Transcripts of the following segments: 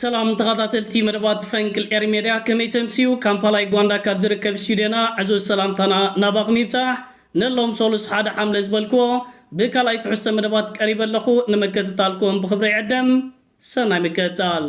ሰላም ተኻታተልቲ መደባት ፈንቅል ኤሪ ሜድያ ከመይ ተምስዩ ካምፓላ ዩጋንዳ ካብ ዝርከብ ስቱድዮና ዕዙዝ ሰላምታና ናባኹም ይብጻሕ ንሎም ሶሉስ ሓደ ሓምለ ዝበልክዎ ብካልኣይ ትሕዝቶ መደባት ቀሪበ ኣለኹ ንምክትታልኩም ብኽብሪ ይዕደም ሰናይ ምክትታል።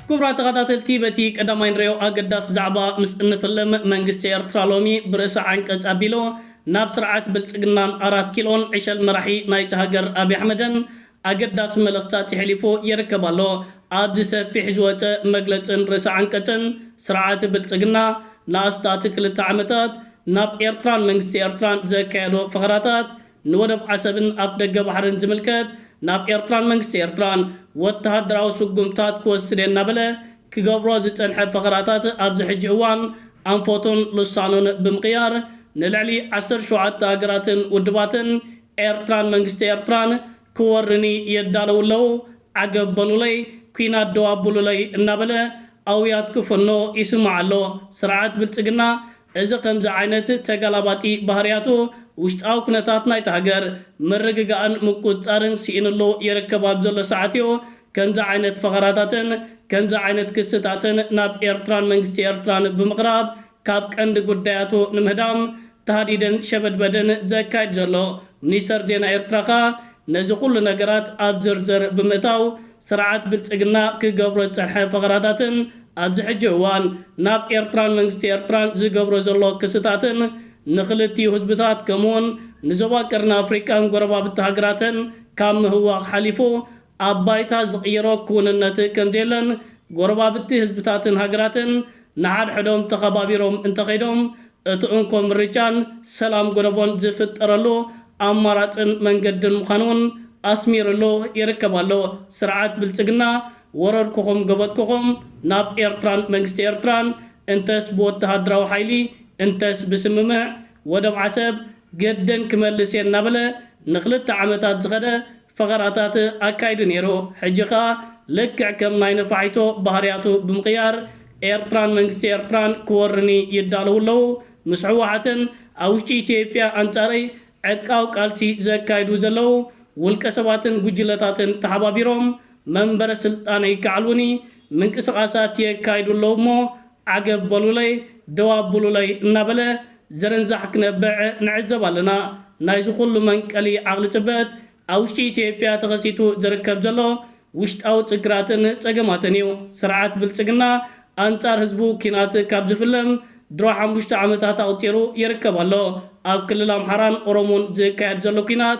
ክቡራት ተኻታተልቲ በቲ ቀዳማይ ንሪኦ ኣገዳሲ ዛዕባ ምስ እንፍልም መንግስቲ ኤርትራ ሎሚ ብርእሰ ዓንቀጽ ኣቢሉ ናብ ስርዓት ብልጽግናን ኣራት ኪሎን ዕሸል መራሒ ናይታ ሃገር ኣቢ ኣሕመድን ኣገዳሲ መልእኽትታት የሕሊፉ ይርከብ ኣሎ። ኣብዚ ሰፊሕ ዝወጸ መግለጽን ርእሰ ዓንቀጽን፣ ስርዓት ብልጽግና ንኣስታት ክልተ ዓመታት ናብ ኤርትራን መንግስቲ ኤርትራን ዘካየዶ ፈኸራታት፣ ንወደብ ዓሰብን ኣፍደገ ባሕርን ዝምልከት ናብ ኤርትራን መንግስቲ ኤርትራን ወተሃደራዊ ስጉምትታት ክወስድ'የ እናበለ ክገብሮ ዝጸንሐ ፈኸራታት ኣብዚ ሕጂ እዋን ኣንፈቱን ልሳኑን ብምቕያር ንልዕሊ ዓሰርተ ሸውዓተ ሃገራትን ውድባትን ኤርትራን መንግስቲ ኤርትራን ክወርኒ የዳልዉ ኣለዉ ዓገብ በሉለይ ኩናት ደው ኣብሉለይ እናበለ ኣውያት ክፍኖ ይስማዕ ኣሎ ስርዓት ብልጽግና እዚ ከምዚ ዓይነት ተገላባጢ ባህርያቱ፣ ውሽጣዊ ኩነታት ናይታ ሃገር ምርግጋእን ምቁጽጻርን ስኢንሉ ይርከብ ኣብ ዘሎ ሰዓት'ዩ ከምዚ ዓይነት ፈኸራታትን ከምዚ ዓይነት ክስታትን ናብ ኤርትራን መንግስቲ ኤርትራን ብምቕራብ ካብ ቀንዲ ጉዳያቱ ንምህዳም ታህዲድን ሸበድበድን ዘካይድ ዘሎ። ሚኒስተር ዜና ኤርትራ ከኣ ነዚ ኩሉ ነገራት ኣብ ዝርዝር ብምእታው ስርዓት ብልጽግና ክገብሮ ዝጸንሐ ፈኸራታትን ኣብዚ ሕጂ እዋን ናብ ኤርትራን መንግስቲ ኤርትራን ዝገብሮ ዘሎ ክስታትን ንኽልቲኡ ህዝብታት ከምኡ'ውን ንዞባ ቀርኒ ኣፍሪቃን ጎረባብቲ ሃገራትን ካብ ምህዋኽ ሓሊፉ ኣብ ባይታ ዝቕይሮ ክውንነት ከምዘየለን ጎረባብቲ ህዝብታትን ሃገራትን ንሓድሕዶም ተኸባቢሮም እንተኸይዶም እቲ እንኮ ምርጫን ሰላም ጎለቦን ዝፍጠረሉ ኣማራፅን መንገድን ምዃኑ ውን ኣስሚርሉ ይርከብ ኣሎ ስርዓት ብልፅግና። ወረርኩኹም ጎበጥኩኹም ናብ ኤርትራን መንግስቲ ኤርትራን እንተስ ብወተሃደራዊ ሓይሊ እንተስ ብስምምዕ ወደብ ዓሰብ ገደን ክመልስ እየ እናበለ ንክልተ ዓመታት ዝኸደ ፈኸራታት ኣካይዱ ነይሩ። ሕጂ ከኣ ልክዕ ከም ናይ ነፋሒቶ ባህርያቱ ብምቕያር ኤርትራን መንግስቲ ኤርትራን ክወሩኒ ይዳለዉ ኣለዉ። ምስ ህወሓትን ኣብ ውሽጢ ኢትዮጵያ ኣንጻረይ ዕጥቃዊ ቃልሲ ዘካይዱ ዘለዉ ውልቀሰባትን ጉጅለታትን ተሓባቢሮም መንበረ ስልጣነይ ከዕልዉኒ ምንቅስቓሳት የካይዱ ኣለዉ እሞ ዓገብ በሉለይ፣ ደው ኣብሉለይ እናበለ ዝርንዛሕ ክነብዕ ንዕዘብ ኣለና። ናይዚ ኩሉ መንቀሊ ዓቕሊ ጽበጥ ኣብ ውሽጢ ኢትዮጵያ ተኸሲቱ ዝርከብ ዘሎ ውሽጣዊ ጽግራትን ጸገማትን እዩ። ስርዓት ብልጽግና ኣንጻር ህዝቡ ኲናት ካብ ዝፍልም ድሮ ሓሙሽተ ዓመታት ኣቑጺሩ ይርከብ ኣሎ። ኣብ ክልል ኣምሓራን ኦሮሞን ዝካየድ ዘሎ ኲናት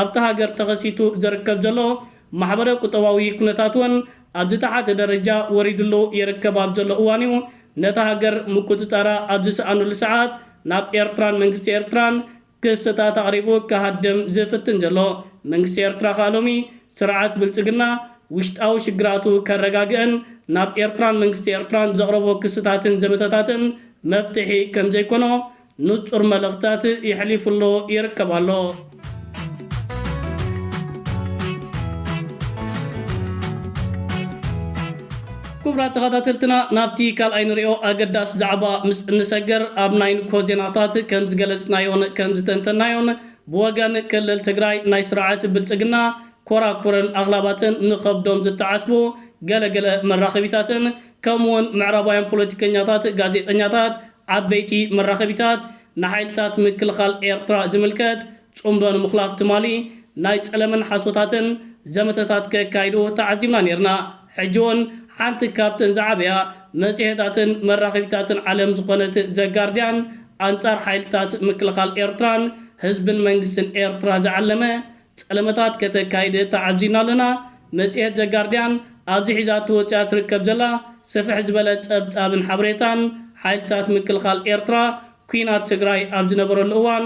ኣብታ ሃገር ተኸሲቱ ዝርከብ ዘሎ ማሕበረ ቁጠባዊ ኩነታት እውን ኣብ ዝተሓተ ደረጃ ወሪድሉ ይርከብ ኣብ ዘሎ እዋን እዩ ነታ ሃገር ምቁፅፃራ ኣብ ዝሰኣኑሉ ሰዓት ናብ ኤርትራን መንግስቲ ኤርትራን ክስታት ኣቕሪቡ ክሃድም ዝፍትን ዘሎ መንግስቲ ኤርትራ ከኣ ሎሚ ስርዓት ብልፅግና ውሽጣዊ ሽግራቱ ከረጋግእን ናብ ኤርትራን መንግስቲ ኤርትራን ዘቕረቦ ክስታትን ዘመተታትን መፍትሒ ከምዘይኮኖ ንጹር መልእኽታት የሕሊፉ ኣሎ ይርከብ ኣሎ። ክቡራት ተኸታተልትና ናብቲ ካልኣይ ንሪኦ ኣገዳሲ ዛዕባ ምስ እንሰገር ኣብ ናይ ንግሆ ዜናታት ከም ዝገለጽናዮን ከም ዝተንተናዮን ብወገን ክልል ትግራይ ናይ ስርዓት ብልጽግና ኮራኩርን ኣኽላባትን ንኸብዶም ዝተዓስቡ ገለ ገለ መራኸቢታትን ከምኡውን ምዕራባውያን ፖለቲከኛታት ጋዜጠኛታት ዓበይቲ መራኸቢታት፣ ንሓይልታት ምክልኻል ኤርትራ ዝምልከት ጽምዶ ንምኹላፍ ትማሊ ናይ ጸለመን ሓሶታትን ዘመተታት ከካይዱ ተዓዚብና ኔርና። ሕጂ'ውን ሓንቲ ካብተን ዝዓበያ መጽሔታትን መራኸቢታትን ዓለም ዝኾነት The Guardian ኣንጻር ሓይልታት ምክልኻል ኤርትራን ህዝብን መንግስትን ኤርትራ ዝዓለመ ጸለመታት ከተካይድ ተዓዚብና ኣለና። መጽሔት ዘ ጋርድያን ኣብዚ ሒዛቶ ወጺኣ ትርከብ ዘላ ስፍሕ ዝበለ ጸብጻብን ሓበሬታን፣ ሓይልታት ምክልኻል ኤርትራ ኲናት ትግራይ ኣብ ዝነበረሉ እዋን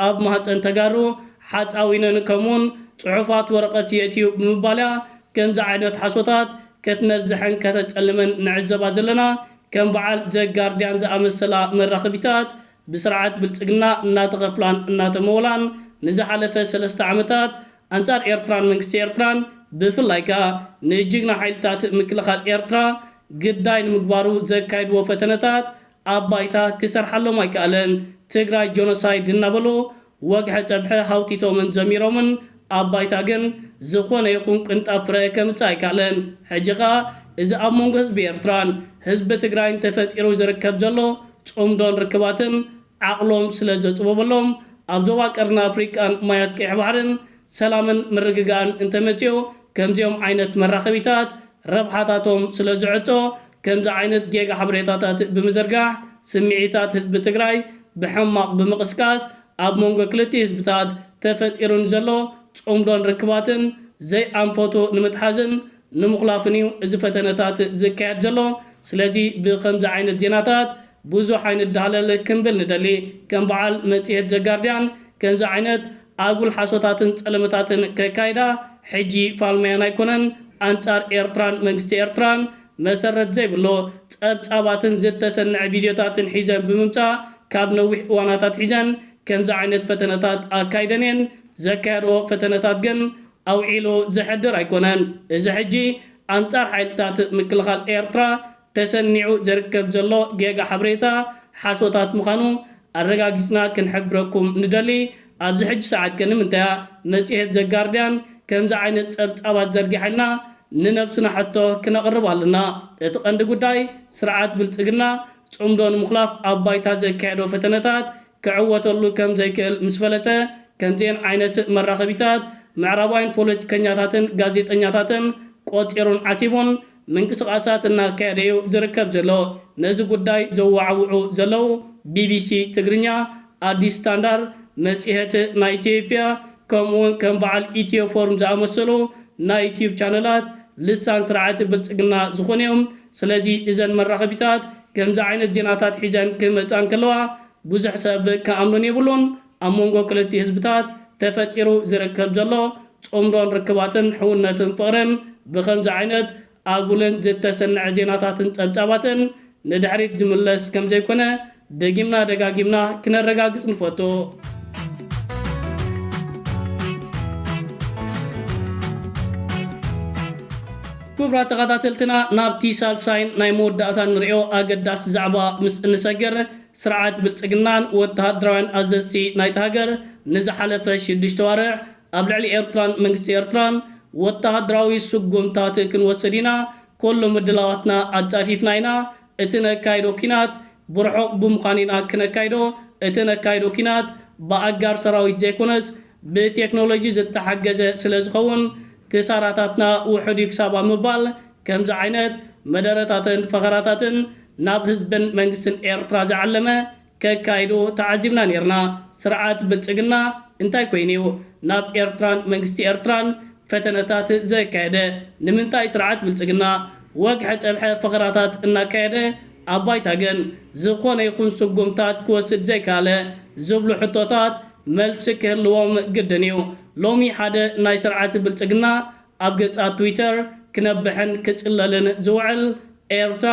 ኣብ ማህጸን ተጋሩ ሓጻዊነን ከምኡ'ውን ጽሑፋት ወረቐት የእትዩ ብምባል'ያ ከምዚ ዓይነት ሓሶታት ከትነዝሕን ከተጸልምን ንዕዘባ ዘለና። ከም በዓል ዘ ጋርድያን ዝኣመሰላ መራኸቢታት ብስርዓት ብልጽግና እናተኸፍላን እናተመወላን ንዝሓለፈ ሰለስተ ዓመታት ኣንጻር ኤርትራን መንግስቲ ኤርትራን ብፍላይ ከኣ ንጅግና ሓይልታት ምክልኻል ኤርትራ ግዳይ ንምግባሩ ዘካይድዎ ፈተነታት ኣብ ባይታ ክሰርሓሎም ኣይከኣለን ትግራይ ጆኖሳይድ እናበሉ ወግሐ ጸብሐ ሃውቲቶምን ዘሚሮምን ኣብ ባይታ ግን ዝኾነ ይኹን ቅንጣብ ፍረ ከምጽእ ኣይካለን። ሕጂ ከኣ እዚ ኣብ መንጎ ህዝቢ ኤርትራን ህዝቢ ትግራይን ተፈጢሩ ዝርከብ ዘሎ ጽምዶን ርክባትን ዓቕሎም ስለ ዘጽበበሎም ኣብ ዞባ ቀርኒ ኣፍሪቃን ማያት ቀይሕ ባሕርን ሰላምን ምርግጋእን እንተመጺኡ ከምዚኦም ዓይነት መራኸቢታት ረብሓታቶም ስለዝዕጾ ከምዚ ዓይነት ጌጋ ሓበሬታታት ብምዝርጋሕ ስምዒታት ህዝቢ ትግራይ ብሕማቕ ብምቕስቃስ ኣብ መንጎ ክልቲኡ ህዝብታት ተፈጢሩ ንዘሎ ጽምዶን ርክባትን ዘይኣንፈቱ ንምትሓዝን ንምኹላፍን እዩ እዚ ፈተነታት ዝካየድ ዘሎ ስለዚ ብኸምዚ ዓይነት ዜናታት ብዙሕ ኣይንደሃለል ክንብል ንደሊ ከም በዓል መጽሔት ዘጋርድያን ከምዚ ዓይነት ኣጉል ሓሶታትን ጸለመታትን ከካይዳ ሕጂ ፋልማየን ኣይኮነን ኣንጻር ኤርትራን መንግስቲ ኤርትራን መሰረት ዘይብሎ ጸብጻባትን ዝተሰነዐ ቪድዮታትን ሒዘን ብምምጻእ ካብ ነዊሕ እዋን ኣታትሒዘን ከምዚ ዓይነት ፈተነታት ኣካይደን እየን ዘካየድኦ ፈተነታት ግን ኣውዒሉ ዘሕድር ኣይኮነን እዚ ሕጂ ኣንጻር ሓይልታት ምክልኻል ኤርትራ ተሰኒዑ ዝርከብ ዘሎ ጌጋ ሓበሬታ ሓሶታት ምዃኑ ኣረጋጊጽና ክንሕብረኩም ንደሊ። ኣብዚ ሕጂ ሰዓት ከ ንምንታይ'ያ መጽሔት ዘ ጋርድያን ከምዚ ዓይነት ጸብጻባት ዘርጊሓልና? ንነብስና ሕቶ ክነቕርብ ኣለና። እቲ ቀንዲ ጉዳይ ስርዓት ብልጽግና ጽምዶ ንምኹላፍ ኣብ ባይታ ዘካየዶ ፈተነታት ክዕወተሉ ከም ዘይክእል ምስ ፈለጠ ከምዚኤን ዓይነት መራኸቢታት ምዕራባውያን ፖለቲከኛታትን ጋዜጠኛታትን ቆጺሩን ዓሲቡን ምንቅስቓሳት እናካየደ'ዩ ዝርከብ ዘሎ። ነዚ ጉዳይ ዘወዓውዑ ዘለዉ ቢቢሲ ትግርኛ፣ ኣዲስ ስታንዳር፣ መጽሔት ናይ ኢትዮጵያ ከምኡ'ውን ከም በዓል ኢትዮ ፎርም ዝኣመሰሉ ናይ ዩትዩብ ቻነላት ልሳን ስርዓት ብልጽግና ዝኾኑ'ዮም። ስለዚ እዘን መራኸቢታት ከምዚ ዓይነት ዜናታት ሒዘን ክመጻ እንከለዋ ብዙሕ ሰብ ክኣምነን የብሉን። ኣብ መንጎ ክልቲ ህዝብታት ተፈጢሩ ዝርከብ ዘሎ ጽምዶን ርክባትን ሕውነትን ፍቕርን ብኸምዚ ዓይነት ኣጉልን ዝተሰነዐ ዜናታትን ጸብጻባትን ንድሕሪት ዝምለስ ከምዘይኮነ ደጊምና ደጋጊምና ክነረጋግጽ ንፈቱ። ክቡራት ተኸታተልትና ናብቲ ሳልሳይን ናይ መወዳእታን ንርእዮ ኣገዳሲ ዛዕባ ምስ እንሰግር ስርዓት ብልጽግናን ወተሃደራውያን ኣዘዝቲ ናይታ ሃገር ንዝሓለፈ ሽዱሽተ ኣዋርሕ ኣብ ልዕሊ ኤርትራን መንግስቲ ኤርትራን ወተሃደራዊ ስጉምታት ክንወስድ ኢና፣ ኮሎ ምድላዋትና ኣጻፊፍና ኢና፣ እቲ ነካይዶ ኩናት ብርሑቕ ብምዃን ኢና ክነካይዶ፣ እቲ ነካይዶ ኩናት ብኣጋር ሰራዊት ዘይኮነስ ብቴክኖሎጂ ዝተሓገዘ ስለዝኸውን ክሳራታትና ውሑድ እዩ ክሳብ ኣብ ምባል ከምዚ ዓይነት መደረታትን ፈኸራታትን ናብ ህዝብን መንግስትን ኤርትራ ዝዓለመ ከካይዱ ተዓዚብና ኔርና። ስርዓት ብልጽግና እንታይ ኮይኑ እዩ ናብ ኤርትራን መንግስቲ ኤርትራን ፈተነታት ዘካየደ? ንምንታይ ስርዓት ብልጽግና ወግሐ ጸብሐ ፈኸራታት እናካየደ ኣብ ባይታ ግን ዝኾነ ይኹን ስጉምታት ክወስድ ዘይከኣለ ዝብሉ ሕቶታት መልሲ ክህልዎም ግድን እዩ። ሎሚ ሓደ ናይ ስርዓት ብልጽግና ኣብ ገጻት ትዊተር ክነብሕን ክጽለልን ዝውዕል ኤርትራ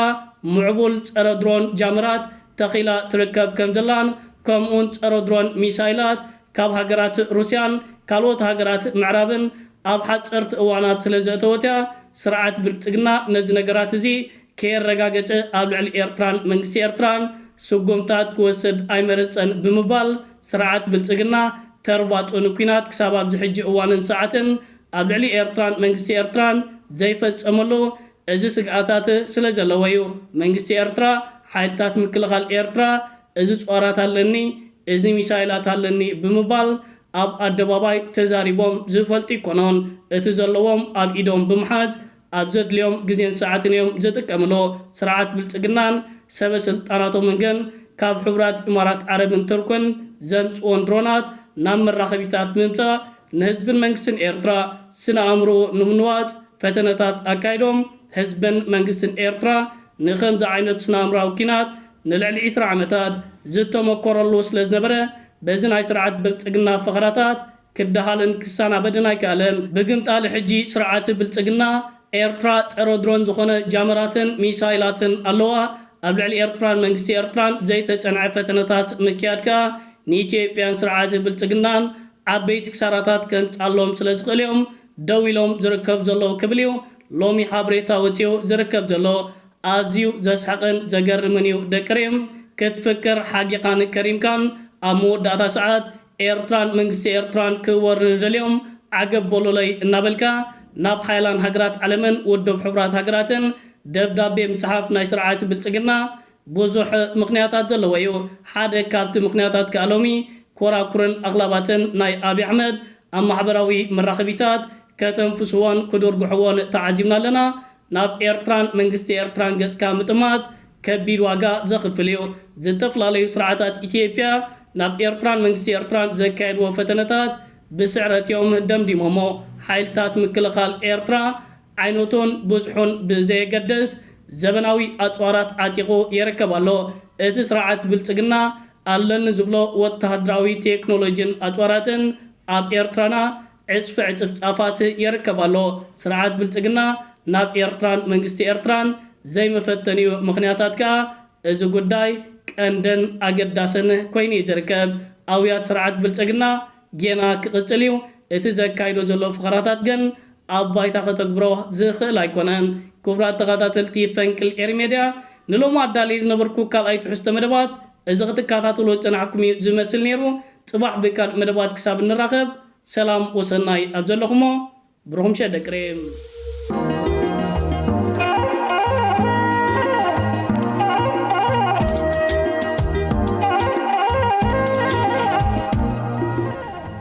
ምዕቡል ጸረ ድሮን ጃመራት ተኺላ ትርከብ ከምዘላን ከምኡውን ጸረ ድሮን ሚሳይላት ካብ ሃገራት ሩስያን ካልኦት ሃገራት ምዕራብን ኣብ ሓጸርቲ እዋናት ስለዘእተወትያ ስርዓት ብልጽግና ነዚ ነገራት እዚ ከየረጋገጸ ኣብ ልዕሊ ኤርትራን መንግስቲ ኤርትራን ስጉምታት ክወስድ ኣይመረጸን ብምባል ስርዓት ብልጽግና ተርባጽኡ ንኲናት ክሳብ ኣብዚ ሕጂ እዋንን ሰዓትን ኣብ ልዕሊ ኤርትራን መንግስቲ ኤርትራን ዘይፈጸመሉ እዚ ስግኣታት ስለዘለዎ እዩ መንግስቲ ኤርትራ ሓይልታት ምክልኻል ኤርትራ እዚ ጾራት ኣለኒ እዚ ሚሳይላት ኣለኒ ብምባል ኣብ ኣደባባይ ተዛሪቦም ዝፈልጡ ይኮኖን እቲ ዘለዎም ኣብ ኢዶም ብምሓዝ ኣብ ዘድልዮም ግዜን ሰዓትን እዮም ዝጥቀምሉ። ስርዓት ብልጽግናን ሰበ ስልጣናቶምን ግን ካብ ሕቡራት ኢማራት ዓረብን ቱርክን ዘምጽኡወን ድሮናት ናብ መራኸቢታት ብምምጻእ ንህዝብን መንግስትን ኤርትራ ስነ ኣእምሮኡ ንምንዋጽ ፈተነታት ኣካይዶም ህዝብን መንግስትን ኤርትራ ንኸምዚ ዓይነት ስነ ኣእምራዊ ኲናት ንልዕሊ ዕስራ ዓመታት ዝተሞኮረሉ ስለዝነበረ በዚ ናይ ስርዓት ብልጽግና ፈኸራታት ክደሃልን ክሰናበድን ኣይከኣለን። ብግምጣል ሕጂ ስርዓት ብልጽግና፣ ኤርትራ ጸረ ድሮን ዝኾነ ጃመራትን ሚሳይላትን ኣለዋ። ኣብ ልዕሊ ኤርትራን መንግስቲ ኤርትራን ዘይተጸንዐ ፈተነታት ምክያድ ከኣ ንኢትዮጵያን ስርዓት ብልጽግናን ዓበይቲ ክሳራታት ከምጽኣሎም ስለ ዝኽእል'ዮም ደው ኢሎም ዝርከቡ ዘለዉ ክብል'ዩ ሎሚ ሓብሬታ ወጺኡ ዝርከብ ዘሎ። ኣዝዩ ዘስሕቕን ዘገርምን'ዩ ደቂ ሪም። ክትፍክር ሓጊኻን ከሪምካን ኣብ መወዳእታ ሰዓት፣ ኤርትራን መንግስቲ ኤርትራን ክወሪ ንደልዮም ዓገብ በሉለይ እናበልካ ናብ ሓያላን ሃገራት ዓለምን ውድብ ሕቡራት ሃገራትን ደብዳቤ ምጽሓፍ ናይ ስርዓት ብልጽግና ብዙሕ ምኽንያታት ዘለዎ እዩ። ሓደ ካብቲ ምኽንያታት ከኣ ሎሚ ኮራኩርን ኣኽላባትን ናይ ኣብይ ኣሕመድ ኣብ ማሕበራዊ መራኸቢታት ከተንፍስዎን ክድርጉሕዎን ተዓዚብና ኣለና። ናብ ኤርትራን መንግስቲ ኤርትራን ገጽካ ምጥማት ከቢድ ዋጋ ዘኽፍል እዩ። ዝተፈላለዩ ስርዓታት ኢትዮጵያ ናብ ኤርትራን መንግስቲ ኤርትራን ዘካየድዎ ፈተነታት ብስዕረት እዮም ደምዲሞሞ። ሓይልታት ምክልኻል ኤርትራ ዓይነቱን ብዝሑን ብዘየገድስ ዘበናዊ ኣጽዋራት ዓጢቑ የረከብ ኣሎ። እቲ ስርዓት ብልጽግና ኣለኒ ዝብሎ ወተሃደራዊ ቴክኖሎጂን ኣጽዋራትን ኣብ ኤርትራና ዕጽፊ ዕጽፍ ጻፋት የርከብ ኣሎ። ስርዓት ብልጽግና ናብ ኤርትራን መንግስቲ ኤርትራን ዘይመፈተኒኡ ምኽንያታት ከኣ እዚ ጉዳይ ቀንድን ኣገዳስን ኮይኑ'ዩ ዝርከብ። ኣውያት ስርዓት ብልጽግና ጌና ክቕጽል'ዩ፣ እቲ ዘካይዶ ዘሎ ፈኸራታት ግን ኣብ ባይታ ከተግብሮ ዝኽእል ኣይኮነን። ክቡራት ተኻታተልቲ ፈንቅል ኤሪ ሜድያ ንሎሚ ኣዳልየ ዝነበርኩ ካልኣይ ትሕዝቶ መደባት፣ እዚ ክትካታተሎ ጸናሕኩም እዩ ዝመስል ነይሩ ጽባሕ ብካልእ መደባት ክሳብ እንራኸብ ሰላም ወሰናይ ኣብ ዘለኹሞ ብሩኽ ምሸት ደቂ ሬም።